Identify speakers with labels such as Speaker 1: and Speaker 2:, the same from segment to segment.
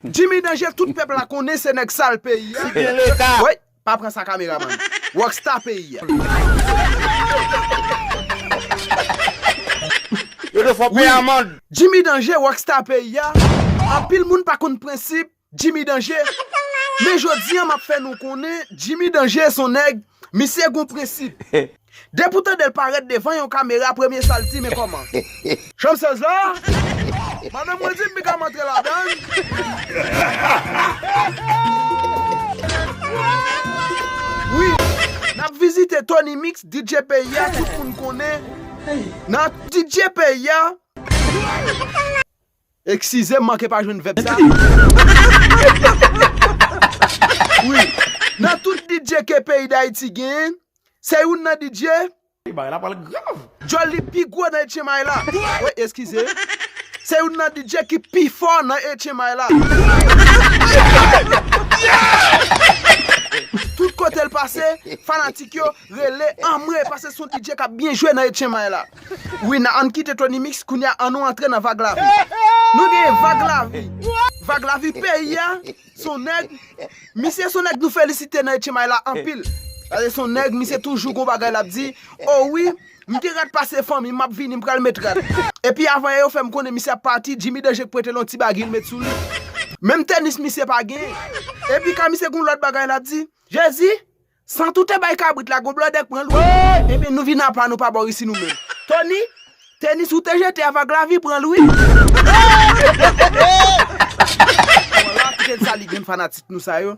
Speaker 1: Jimmy danje tout pèp la konnen se nèg sal peyi a. Si gen leta. Woy pa pran sa kameraman. Rock star peyi a. Yo te fò peye amand. Jimmy danje rock star peyi a. Anpil moun pa konn prensip jimmy danje. Men jodi an map fè nou konnen jimmy danje son nèg misye gon prensip. Depi w tandel parèt devan yon kamera premye sal di men kòman. Chanm 16 la? Madanm mwen di m pi ka m antre ladann. Nap vizite Tony Mix DJ peyi a tout moun konnen nan DJ peyi a. Eksize m manke pa jwenn vèb sa wi. Nan tout DJ ke peyi Dayiti genyen, se youn nan DJ. Wi bagay la pral
Speaker 2: grav. Djòl li pi gwo
Speaker 1: nan etchenmay la. Woy eskize. Se youn nan DJ ki pi fò nan etchenmay la. Tout kote l pase, fanatik yo. Rele anmwee pase son TJ kap byen jwe nan Etchen may la wi nan ann kite Tony mix kounya annou antre nan vag lavi nou genyen vag lavi vag lavi peyi a son nèg misye son nèg nou felisite nan Etchen may la anpil pase son nèg misye toujou gon bagay lap di oh wi m gen rad pase fanmi map vini m pral met rad epi avan yè yo fèm konnen misye ap pati Jimmy Danger k prete l yon ti bagy l met sou li menm tenis misye pa genyen epi ka misye gon lòt bagay lap di Jezi San toute bay kabrit la gwo blòdè k pran l wi. Ebyen nou vin apa nou pa bò isi nou menm. Tony, tenis ou te jete a vag lavi pran l wi. Wala kite n salye grenn fanatik nou sa yo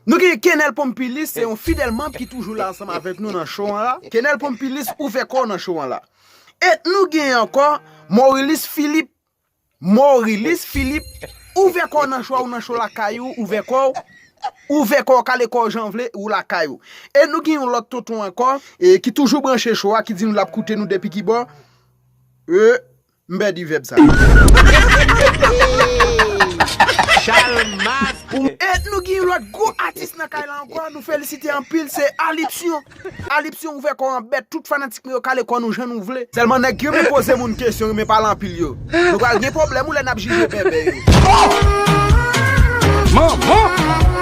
Speaker 1: Nou gen Kenel Pompilus se yon fidèl manb ki toujou la ansanm avèk nou nan show an la Kenel Pompilus ouvè kò w nan show an la Et nou gen ankò Morilis Philippe Morilis Filip ouvè kòw nan cho a ou nan cho lakay ou ouvè kòw ouvè kòw kale kòw janw vle ou lakay ou e nou gen yon lòt tonton ankò ki toujou branche cho a ki di nou lap koute nou depi kibò e m pèdi vèb sa e nou gen yon lòt gwo atis nan kay la ankò nou felisite anpil se Alipsyon. Alipsi ouvè kòw an bèt tout fanatik nou yo kale kò nou jan nou vle. Sèlman nèg ki renmen poze moun kesyon renmen pale anpil yo Nou pral gen pwoblèm wi lè nap jije bèbè yo Ohh manman!